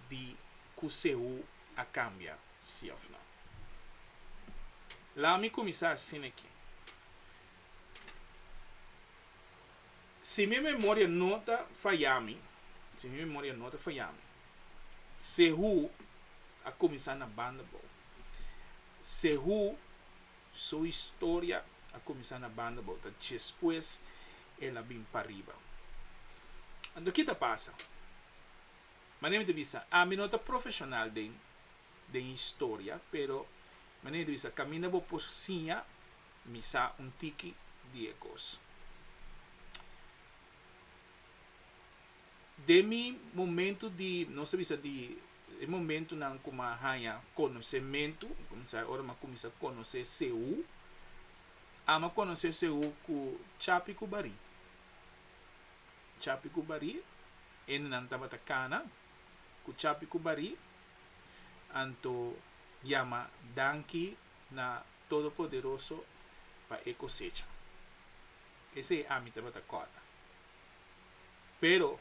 di cu Sehú a cambia, sí of no. Laat mi cuminsa asina aqui. Si mi memoria no ta faya mi, si mi memoria no ta faya mi, Sehú a cuminsa na banda bou. Sehú su historia a cuminsa na banda bou, ta despues el a bin pariba. Anto ki ta pasa? Manera mi ta bisa, ami no ta profesional den den historia, pero manera mi ta bisa caminda bo por siña mi sa un tiki di e cos. Den mi momento di, nos ta bisa di e momentonan cu mi a haña conocemento, mi cuminsa ora mi a cuminsa conoce Seú, ami a conoce Seú cu chapi cu barí. Chapi ku Barí, hendenan tabata kana ku Chapi ku Barí, anto yama danki na Todopoderoso pa e kosecha. Esei ami tabata kòrda. Pero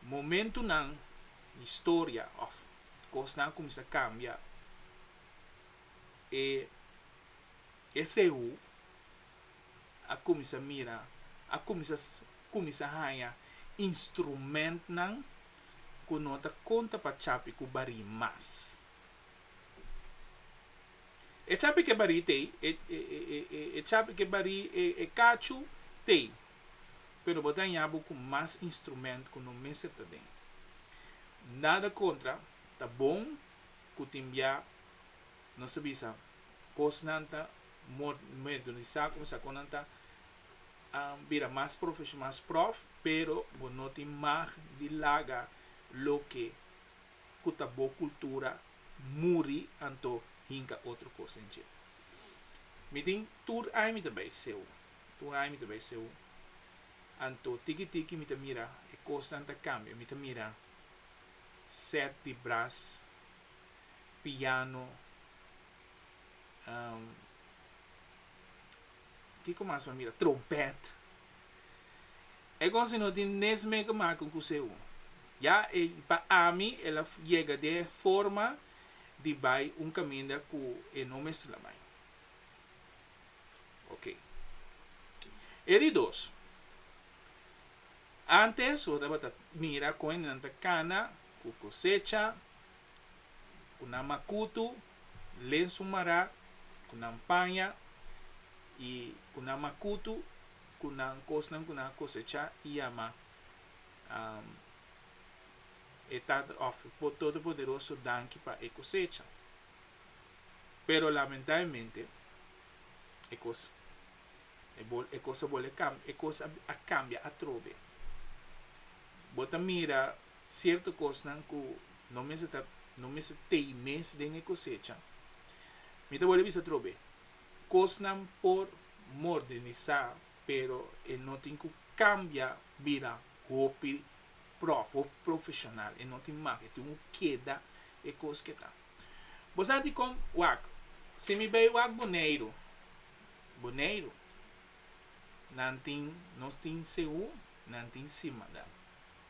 momentunan di historia òf kosnan a kuminsá kambia, e esei hu. a kuminsá mira, a kuminsá kuminsá haña instrumentnan ku no ta konta pa chapi ku barí mas. E chapi ke barí t'ei, e e chapi ke barí e kachu t'ei, pero bo ta haña bo ku mas instrument ku no mester ta den. Nada kontra, ta bon ku tin bia nos a bisa kosnan ta modernisá kuminsá kon nan ta bira mas profesh mas prof pero bo no tin mag di laga loke ku ta bo kultura muri anto hinka otro kos den dje mi tin tur aña mi ta bai seu tur aña mi ta bai seu anto tiki tiki mi ta mira e kosnan ta kambia mi ta mira set di bras piano Um, kiko mas pa mira? Trompet. E gosi no tin nesme ke maka un kuse un. Ya e, pa ami el a yega den e forma di bai un kaminda ku e no mester la bai. Oke. E di dos, antes bo tabata mira kon nan ta kana ku kosecha, ku nan makutu, lensu mará ku nan paña i ku nan makutu ku nan kosnan ku nan a kosechá i a ma. E Tata òf e Todopoderoso danki pa e kosecha. Pero lamentaemente e kos e bo e kos a bole kambia e kos a kambia atrobe. Bo ta mira. cierto cosnan cu no mester ta, no mester tey mes den e cosecha. Mi ta bolbe bisa trobe, cosnan por modernisá pero e no tin cu cambia bira hopi prof, hopi profesional, e no tin mak, e tin cu keda e cos cu e ta. Bo sa dicom wak? Si mi bay wak Boneiru, Boneiru, nan tin, nos tin segun, nan tin sima, da.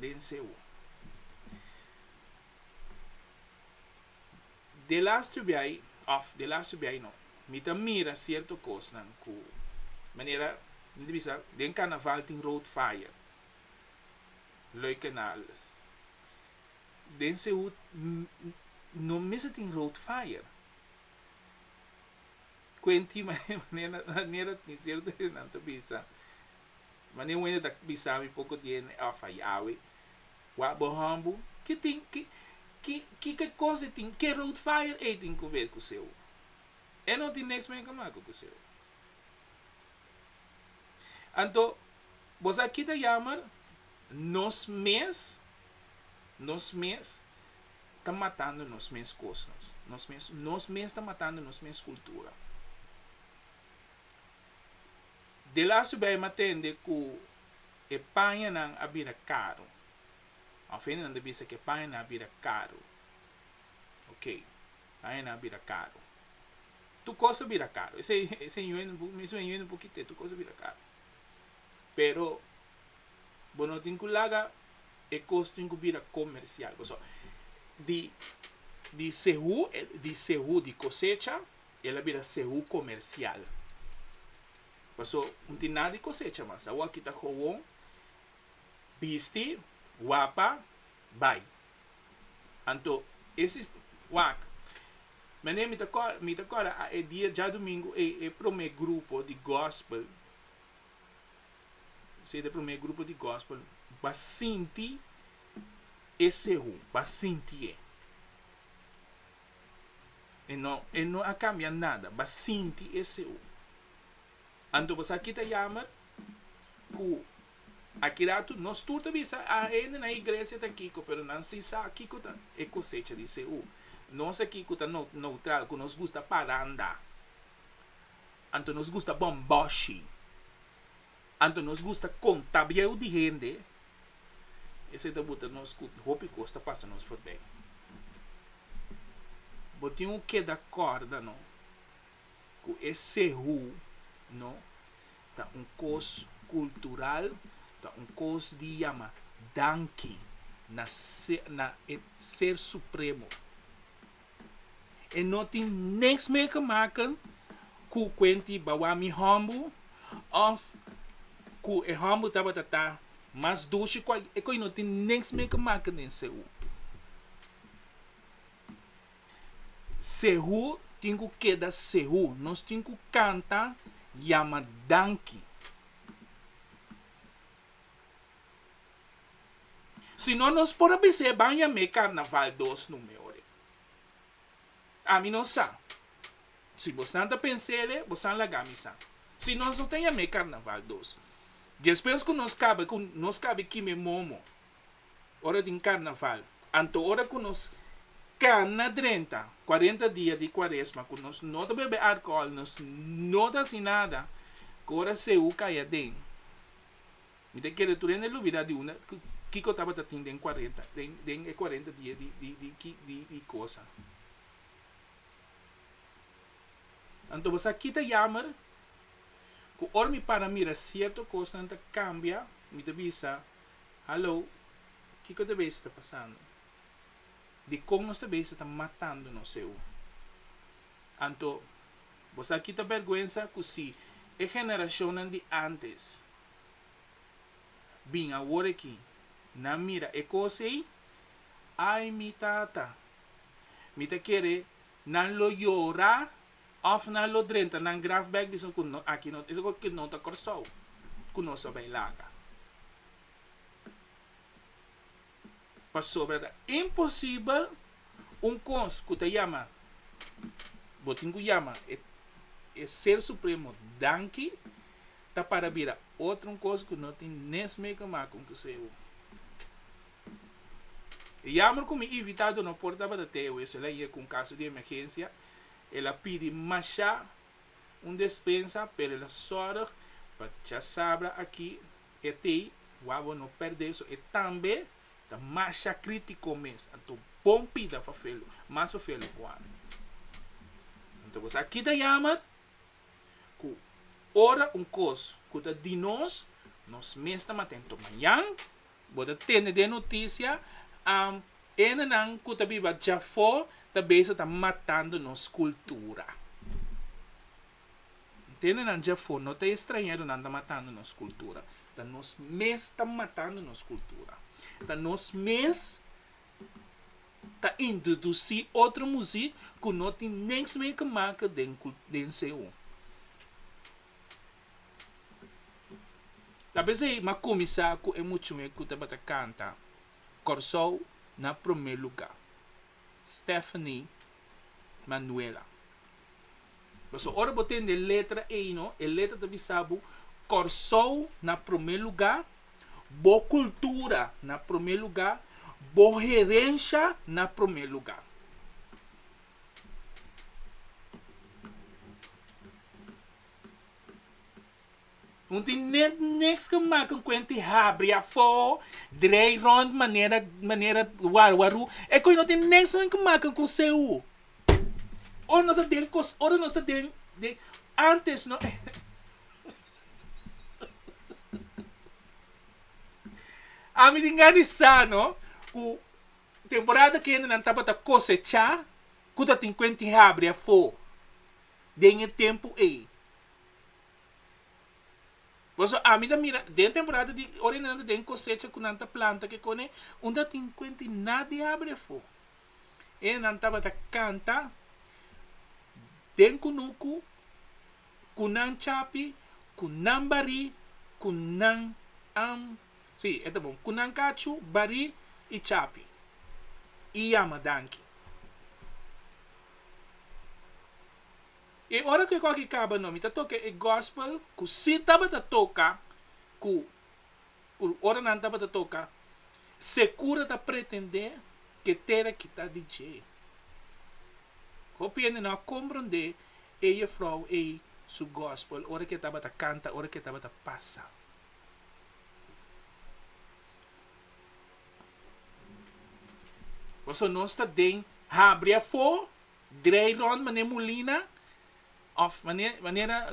den Seú. De lastu biai, òf, de lastu biai no, mi ta mira sierto kosnan ku manera, mi ta bisa den karnaval tin road fire, Lui Canales. Den Seú no mester tin road fire. Kuenti manera manera tin sierto hende nan ta bisa Mane Wende ta bisa mi poko di hende a fayawe wak bo hambu. Ki tin ki ki ke kos e tin ke road fire ey tin ku wer ku seu. E no tin nex meka maka ku seu. Anto bo sa ki ta yamer nos mes nos mes ta matando nos mes kos nos nos mes nos mes ta matando nos mes kultura. De lasu bay mi a tende cu e pañanan a bira caru. Of hende nan ta bisa cu e pañanan a bira caru. Ok, pañanan a bira caru. Tur cos ta bira caru. Esey esey yuende un mesun e yuende un poquito e tur cos ta bira caru. Pero bo no tin cu laga e cos tin cu bira comercial. Pasobra di di sehu di sehu di cosecha. el a bira sehu komersial. Paso no tin nada di kosecha mas. Awor a kita howon, bisti, wapa, bai. Anto e sis, wak. Mene mi ta kòrda, mi ta kòrda a e dia djadumingu ei e promé grupo di gòspel, sete promé grupo di gòspel ba sinti e sehu, ba sintié. E no e no a cambia nada ba sinti e seu anto bo sa kita yamer cu aki ratu nos tur ta bisa a hende na iglesia ta kico pero nan si sa kico ta e cosecha di seu nos aki cu ta neutral cu nos gusta paranda anto nos gusta bomboshi. Anto nos gusta konta bieu di hende, esei ta buta nos ku hopi kos ta pasa nos forbei. Bo tin un keda kòrda no ku e sehu no ta un kos kultural, ta un kos di yama danki na na e Ser Supremo. E no tin niks mer ke maken ku kuenti bawa mi hòmbu òf ku e hòmbu tabata ta mas dushi ku e koi no tin niks mer ke maken den Sehu. Sehu tin ku keda Sehu. Nos tin ku kanta yama danki. Si no nos por a bisa e baña me carnaval dos nume ori. Ami no sa. Si bosnan ta pensele, bosan laga mi sa. Si nos no ta yam'é carnaval dos. Despues cu nos caba cu nos cabe kime momo ora tin carnaval, anto ora cu nos cana drenta cuarenta dia di cuaresma cu nos no ta bebe alcohol, nos no ta haci nada, cora seu cay aden. Mi ta kere tur hende lubida di unda kiko tabata tin den cuarenta den den e cuarenta dia di di di ki di di cosa. Anto bo sa ki ta yamer? Ku ora mi para mira sierto kosnan ta kambia, mi ta bisa, Hallo, kiko ta bes ta pasando? Dikon nos ta bes ta matando nos ewu? Anto bo sa ki ta bèrgwensa? Ku si e generashonnan di ántes Bin awor aki, nan mira e cos ey? Ay mi tata! Mi ta kere nan lo yora of nan lo drenta nan graf bek bisnan cu no aki no ta, cu no ta Corsou, cu nos a bay laga. Pasobra ta imposibel un kos ku ta yama, bo tin ku yama e e Ser Supremo danki, ta para bira otro un kos ku no tin nes mei ke mak un kuseu. E yamber ku mi invitado no por tabata Theo e solo aye ku un kaso di emergensia, el a pidi mashá un despensa, pero el a sòrg pa Chasabra aki, E tey wawon no perde so e tambe ta masha critico mes anto bon pida fafelo mas fafelo cu ami anto bo sa kita yamer cu ora un cos cu ta di nos nos mes ta mata anto mañan bo ta tene den noticia am ene nan cu ta biba djafo ta beza ta matando nos cultura. Ntendenan dje afó, no ta e strañeronan ta matando nos kultura, ta nos mes ta matando nos kultura. Ta nos mes ta introdusí otro muzik ku no tin niks mei ke make den den CU. Ta p'esei m'a kuminsá ku e muchanan ku tabata kanta Kòrsou na promé lugá. Stephanie Manuela. Paso ora bo tende e letra ey no e letra ta bisa bo Kòrsou na prome luga, bo kultura na prome luga, bo herensha na prome luga. Un tin net niks ke maka un kuent di habri afó, drei rònt manera manera warwaru. E kos ei no tin niks men ke maka ku seu. Ora nos ta den kos ora nos ta den den ántes no Ami tin gana di sa no ku temporada kende nan tabata kosechá ku tatin kuent di habri afó den e tempu ei. Pasobra ami ta mira den temporada di ora e nan ta den kosecha ku nan ta planta ke kone unda tin kwenti nat di habri afo e nan tabata kanta den kunuku ku nan chapi ku nan bari ku nan si e ta bon ku nan kachu bari i chapi i yama danki. E ora ku e kòrki kaba no, mi ta toka e gòspel ku si tabata toka ku ku ora nan tabata toka se kura ta pretendé ku e tera kita di dje. Hopi hende no a komprondé e yefrou ei su gòspel ora ku e tabata kanta, ora ku e tabata pasa. Pasobra nos ta den habri afó. Draai rond manera Molina of manera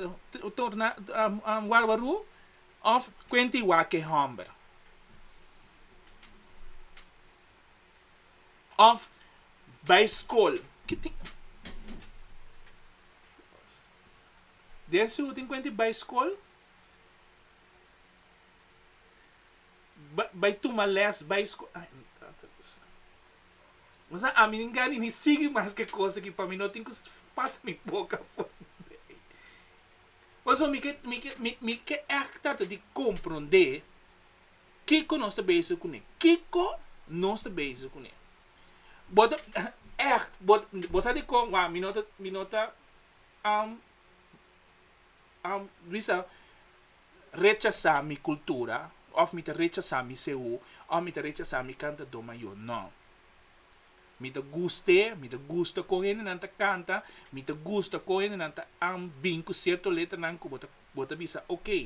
Warwaru of kuenta i wak e homber. Of bai skol. Den su tin kuenta i bai skol. bai tuma les bai skola ay mi tata do santo bo sa ami nin gani ni sigui mas ke kos aki pa mi no tin ku pasa mi boka for di ei pasobra mi ke mi ke mi ke ègt trata di komprondé kiko nos ta basic kuné kiko nos ta basic kuné bo ta ègt bo bo sa dikon wa mi no ta mi no ta am am bisa rechasá mi kultura òf mi ta rechasá mi seú òf mi ta rechasá mi kantadó mayó. Nò. Mi ta gust'é, mi ta gusta kon hendenan ta kanta, mi ta gusta kon hendenan ta an bin ku sierto letranan ku bo ta bo ta bisa, okey,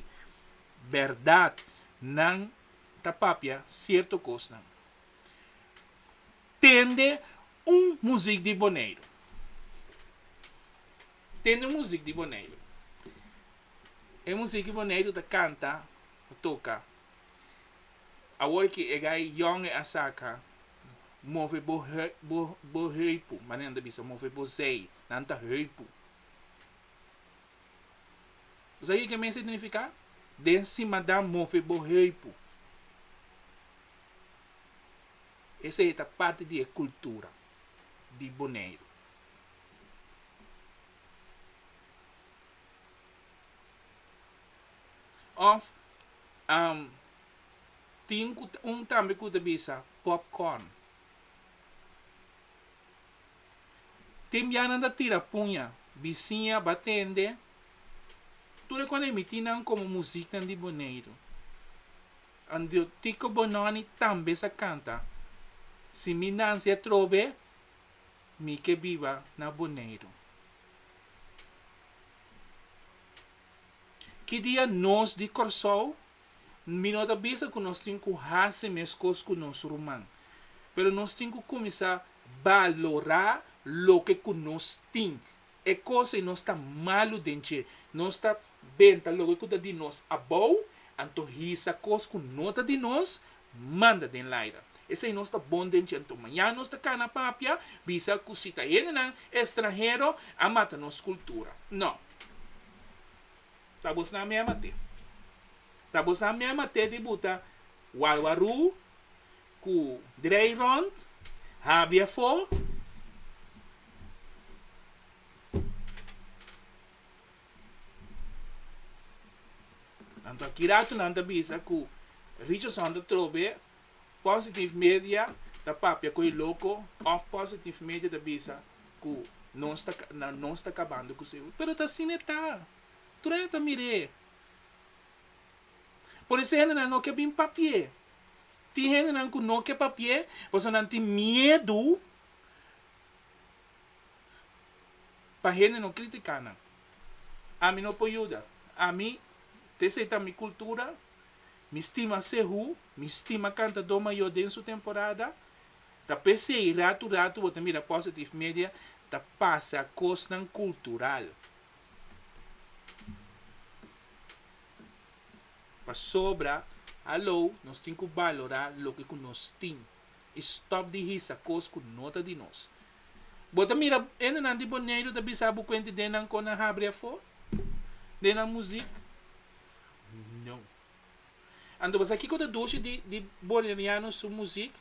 bèrdat nan ta papia sierto kosnan. Tende un muzik di Boneiru. Tende un muzik di Boneiru. E muzik ku Boneiru ta kanta o toka awor ku e gai yòn e a saka, Move bo bo heupu, manera nan ta bisa move bo zèi, nan ta heupu. Bo sa kiko mester signifiká? Den simadan move bo heupu. Esei ta parti di e kultura di Boneiru. Of am tin ku un tambe ku ta bisa popcorn. Tin bia nan ta tira puña, bisiña ba tende, tur e kos a miti nan komo musiknan di Boneiru. Andio Tiko Bononi tambe sa kanta. Si mi nansi atrobe, Mi ke biba na Boneiru. Ki dia nos di Kòrsou mi no ta bisa ku nos tin ku hasi meskos ku nos ruman, pero nos tin ku kuminsá balorá loke ku nos tin. E cos ei nos ta malu den dje, nos ta benta loke cu ta di nos abou, anto hisa cos cu no ta di nos, manda den laira. Esei nos ta bon den dje, anto mañana nos ta cana papia, bisa cu si ta hendenan estranhero a mata nos cultura. No. Ta bosnan mea mate. Ta bosnan mea mate di buta warwarú, Ku drei rond habi afó. Nan ta ki ratu nan ta bisa ku Richardson ta trobe Positive Media ta papia ku e loko òf Positive Media ta bisa ku nos ta nan nos ta kabando ku Seul pero ta asina e ta. Trueno ta mir'é. Por eso hendenan no ke bin papi'é. Tin hendenan ku no ke papi'é pasobra nan tin miedu pa hende no kritiká nan. Ami no por yuda. Ami ta esei ta mi kultura, mi stima Sehu, mi stima kantadó mayó den su temporada, ta p'esei ratu ratu bo ta mira Positive Media ta pasa kosnan kultural. Pasobra alo nos tin ku balorá loke ku nos tin i stòp di hisa kos ku no ta di nos. Bo ta mira hendenan di Boneiru ta bisa bo kuenti den nan kon nan habri afó? Den nan muzik? No. Anto bo sa kiko ta dushi di di Boneiriano su muzik?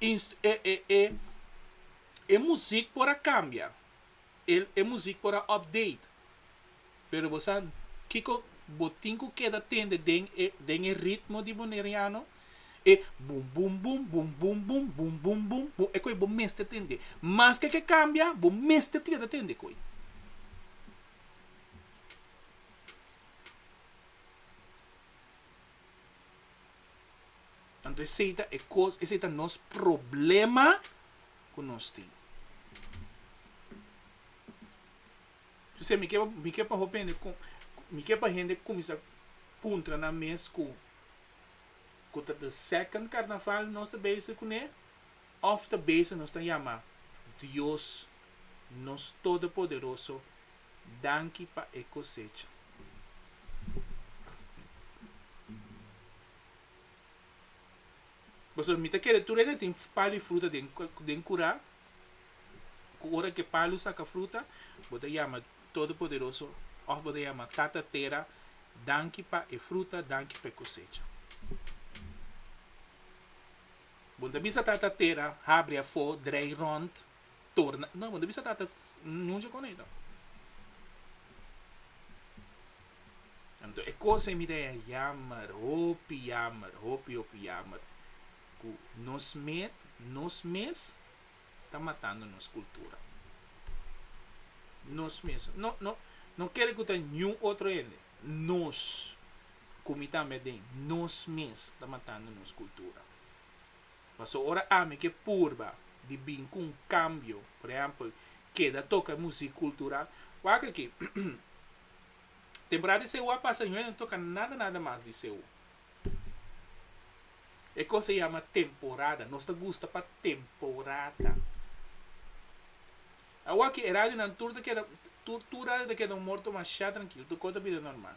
Inst e e e e muzik por a kambia. El e muzik por a update. Pero bo sa kiko bo tin ku keda tende den e den e ritmo di Boneriano? E bum bum bum bum bum bum bum bum bum bum e koe bo mester tende. Maske ke kambia bo mester keda tende koe. Anto esei ta e kos esei ta nos problema. ku nos tin. P'esei mi ke mi ke pa hopi hende ku mi ke pa hende kuminsá puntra nan mes ku ku ta the second karnaval nos ta bezig kuné òf ta bezig nos ta yama Dios nos todopoderoso danki pa e kosecha. Pasobra mi ta kere tur e na tin palu i fruta den den kura, ku ora ku e palu saka fruta, bo ta yama Todopoderoso òf bo ta yama Tata Tera, danki pa e fruta, danki pa e kosecha. Bo ta bisa Tata Tera, habri afó, drei rònt. torna no bo ta bisa tata no dje con ey anto e cosa ey mi ta jammer hopi jammer hopi hopi jammer cu nos met nos mes ta matando nos cultura nos mes no no no ker cu ta ningún otro hende nos cu mi tambe aden nos mes ta matando nos cultura. Paso ora ami ke purba di bin ku un kambio, por ehèmpel, keda toka musik kultural, wak aki, temporada di CU a pasa, no e toka nada nada mas di CU. E kos a yama temporada, nos ta gusta pa temporada. Awaki e radionan tur ta keda, tur tur radio ta keda un morto masha trankil, tur kos ta bira normal.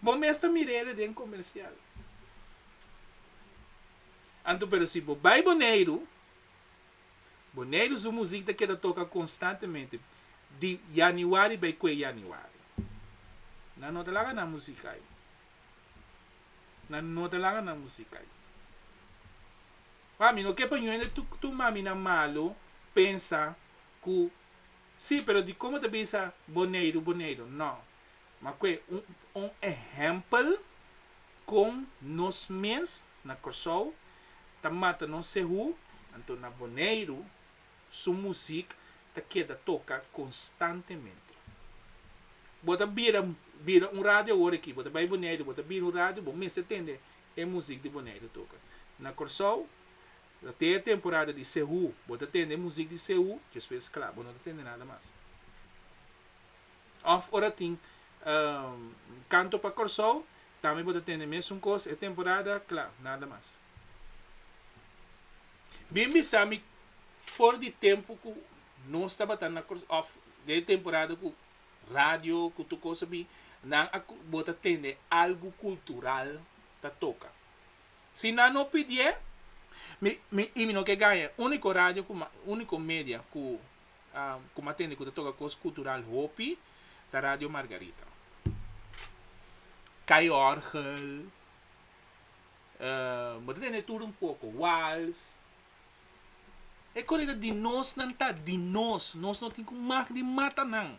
Bo mes ta mir'ele den comercial. Anto pero si bo bay Boneiru, Boneiru su muziek ta keda toca constantemente di Januari bay cue Januari. Nan no ta laga nan muziek ay. Nan no ta laga nan muziek ay. Mami, no ke pa yoende tu maminan malo pensa Cu, Sí, pero di como ta bisa Boneiru, Boneiru? No. Makue un, un ehempel con nos mes na Corsou ta mata nos sehu, anto na Boneiru su muziek ta keda toca constantemente. Bo ta bira, bira un radio awor aki, bo ta bay Boneiru, bo ta bira un radio, bo mester tende e muziek di Boneiru toca. Na Corsou, Ta te e temporada di Sehu. Bo ta tende e muzik di Sehu, despues es kla, bo no ta tende nada mas. Òf ora tin kanto pa Kòrsou, tambe bo ta tende mesun kos e temporada, kla, nada mas. Bin bisa mi for di tempu ku nos tabata na Kòrsou, òf den e temporada ku radio, ku tur kos a bin, nan a bo ta tende algu kultural ta toka. Si nan no pidié, mi mi y mi no ke gaña. Único radio ku ma único media ku ku m'a tende ku ta toka kos kultural hopi ta Radio Margarita. Kai orgel, bo ta tende tur un poko, wals. E kore ta di nos nan ta di nos, nos no tin ku mag di mata nan.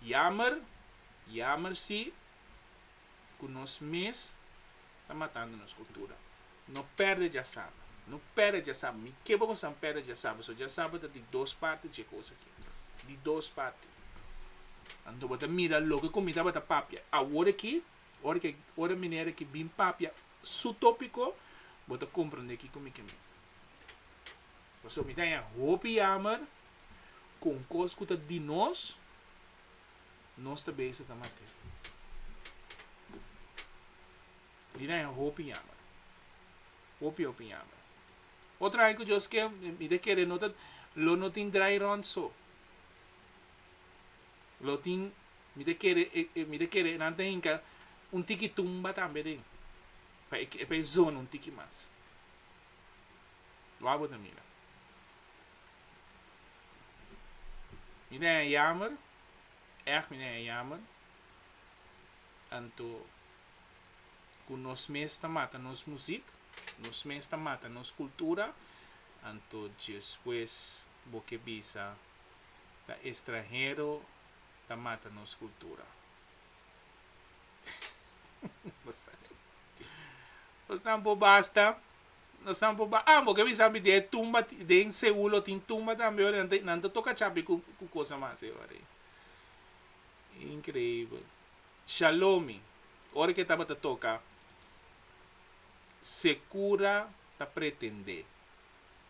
Yamer, yamer si, ku nos mes ta matando nos kultura. No pèrdè djasaba, no pèrdè djasaba. Mi ke bo pasan pèrdè djasaba, so djasaba ta di dos parti dje kos aki. Di dos parti. Anto bo ta mira loke ku mi tabata papia awor aki. Ora ke ora minera ki bin papia su topiko bo ta komprende kiko mi ke mina. Paso mi ta e hopi yamer ku un kos ku ta di nos, nos ta bese ta matea. Mi ta e hopi yamer. Hopi hopi yamer. Otro ai ku Dios ke mi ta kere no ta lo no tin drai rònt so. Lo tin, mi ta kere e, mi ta kere e nan ta hinka un tiki tumba tambe den, pa e, pa e zona un tiki mas. Wak bo ta mira. Mi ta hen yamer, èg mi ta hen yamer, anto ku nos mes ta mata nos muzik, nos mes ta mata nos kultura, anto despues bo ke bisa. ta estranhero ta mata nos cultura. Nos nan por basta, nos nan por ba-, ah bo ke bisa ami den e tumba ti-, den Seul lo tin tumba tambe ora, nan ta, nan ta toka chapi ku, ku cosa mas e ora ei. Increíbel. Shalomi, ora ke tabata toka, se cura ta pretende.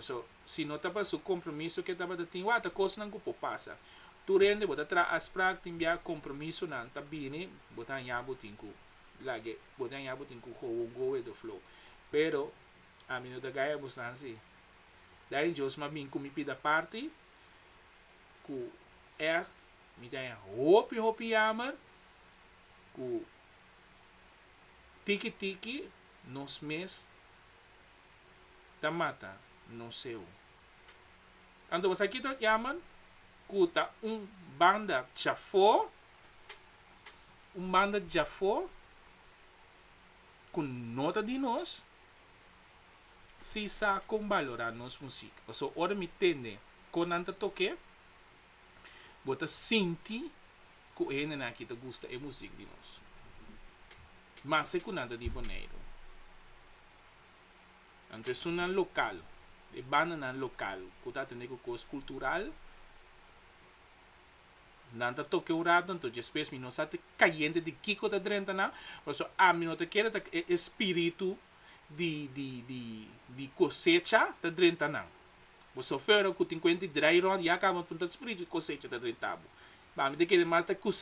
So, si no ta pa su compromiso ke tabata tin wata cosnan cu por pasa. Tur hende bo ta traha aspraak tin bia compromisonan ta bini, bo ta haña bo tin cu lage, bo ta haña bo tin cu go won go with the flow. Pero, ami no ta gaya bo san si. Da den Djosma a bin cu mi pida parti cu echt mi ta haña hopi hopi yamer cu tiki tiki nos mes ta mata no seu. Anto bo sa kita un yaman ku ta un banda chafó, un banda djafó ku no ta di nos, si sa kon balorá nos musik. Paso ora mi tende kon nan ta tok'é. Bo ta sinti ku e hendenan aki ta gusta e muzik di nos. Mase ku nan ta di Boneiru. Anto esunnan lokal, e bandanan lokal ku ta atendé ku kos kultural, nan ta toke un rato anto despues mi no sa te kayente di kiko ta drenta nan, pasobra ami no ta kere ta e espiritu di kosecha ta drenta nan. Bo sofero ku tin kuent di drai rònt ya kaba punta di spiritu di kosecha ta drenta bo. Ba mi ta kere mas ta ku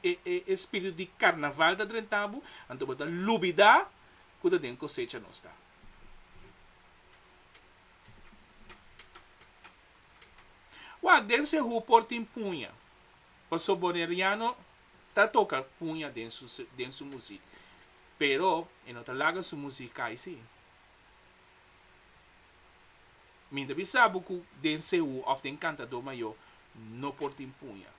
e spiritu di karnaval ta drenta bo, anto bo ta lubidá ku ta den kosecha nos ta. Wak den Sehú por tin puña, paso Boneriano ta toka puña den su musik, pero e no ta laga su musik kai si. Mi ta bisa bo ku den Seú òf den kantadó mayó no por tin puña.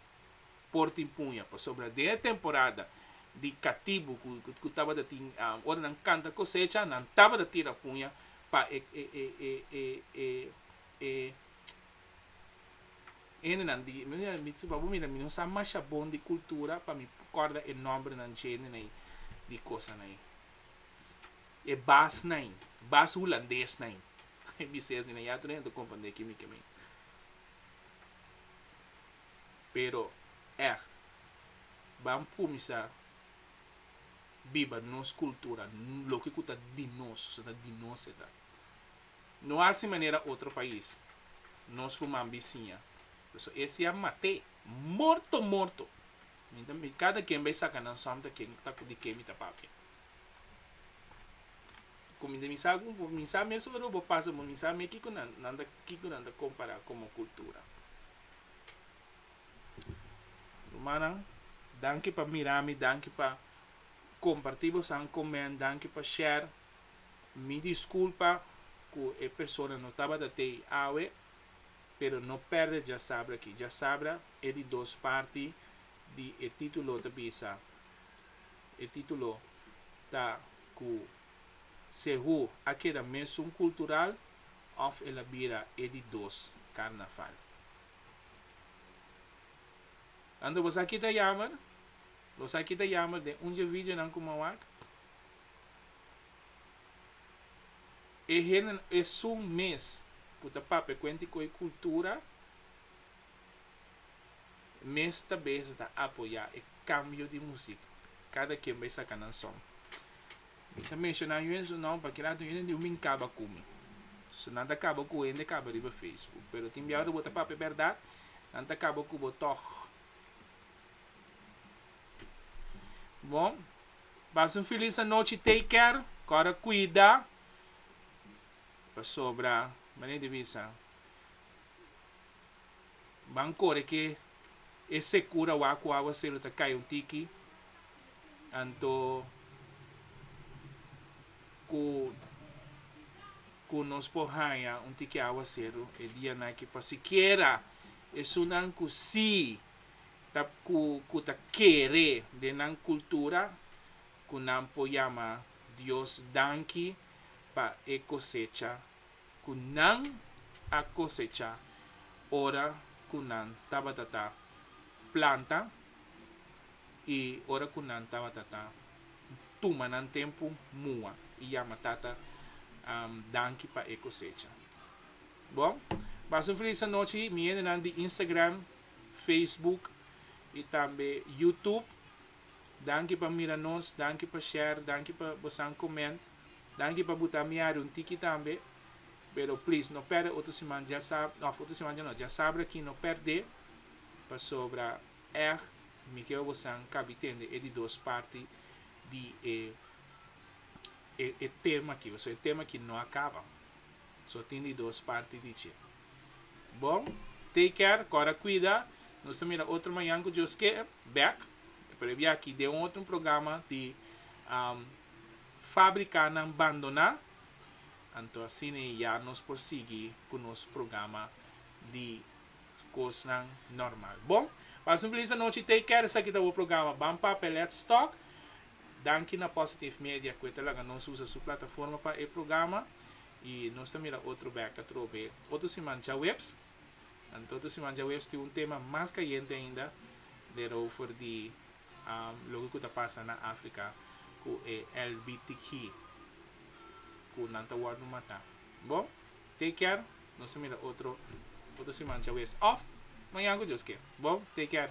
Por tin puña, pasobra den e temporada di katibu ku tabata tin ora nan kanta kosecha, nan tabata tira puña pa e e hendenan di, bo mira mi no sa masha bon di kultura pa mi kòrda e nòmbrenan dje di kosanan ei. e bas nai, bas hulandes nai. E bises di nan ya tur hende a komprende kimi ke mi. Pero ègt, ban kuminsá biba nos kultura, loke ku ta di nos, pasobra ta di nos e ta. No hasi manera otro pais, nos ruman bisiña, so e siña mat'é, morto morto! Mi ta mi kada ken bai saka nan sòmta ken ta di ke mi ta papia. Ku mi mi sa ku bo mi sa mesun ora bo pasa bo mi sa me kiko nan nan ta kiko nan ta kompara komo kultura. Rumannan danki pa mira mi danki pa komparti bosadan ku mi en danki pa share mi diskulpa ku e persona no tabata tei awe pero no pèrdè djasabra aki djasabra e di dos parti di e titulo ta bisa E titulo ta cu Sehu a keda mesun cultural of el a bira e di dos carnaval. Anto bo sa kita yamer? Bo sa kita yamer den un dje videonan cu m'en wak? E hende esun mes cu ta pap'e cuenti cu e cultura mes ta bes ta apoyá e kambio di musik kada ken bai saka nan son. Mi ta menshoná yu en su nom pa kila yu nunde min kaba ku mi. So nan ta kaba ku hende kaba riba Facebook, pero tin biaw ora bo ta papia bèrdat nan ta kaba ku bo tòg. Bo pasa un felis anochi take care kòrda kuida pasobra manera di bisa. Ban kore ke e sekura wak ku aguasero ta kai un tiki, anto ku ku nos por haña un tiki aguasero e dianan aki pa sikiera esunnan ku si ta ku ku ta kere den nan kultura ku nan por yama Dios danki pa e kosecha ku nan a kosechá ora ku nan tabata ta planta i ora ku nan tabata ta tuma nan tempu mua i yama Tata danki pa e kosecha. Bo pasa un felis anochi mi hendenan di Instagram, Facebook i tambe YouTube. Danki pa mira nos, danki pa share, danki pa bosan comment, danki pa buta mi area un tiki tambe, pero please no perde otro siman dja sab of otro siman dja no dja sabra aki no perde pasobra echt mi keba bosan kabi tende e di dos parti di e e tema aki, pasobra e tema aki no a kaba so tin di dos parti di dje. Bon, take care, kòrda kuida, nos ta mira otro mañan ku Dios ke bèk, e por e bia aki den un otro programa di Fabrikanan Bandoná, anto asina ya nos por sigui ku nos programa di kosnan normal. Bon, pasa un felis anochi, take care, esaki ta bo programa Ban Papia Let's Talk, danki na Positive Media ku e ta laga nos usa su plataforma pa e programa, I nos ta mira otro beca trobe otro siman djaweps. Anto otro siman djaweps tin un tema mas cayente ainda derover di loke cu ta pasa na Africa cu e LBTQ cu nan ta wordo mata. Bo, te kier nos ta mira otro otro siman djaweps of mañan cu Dios ke. Bo, te kier.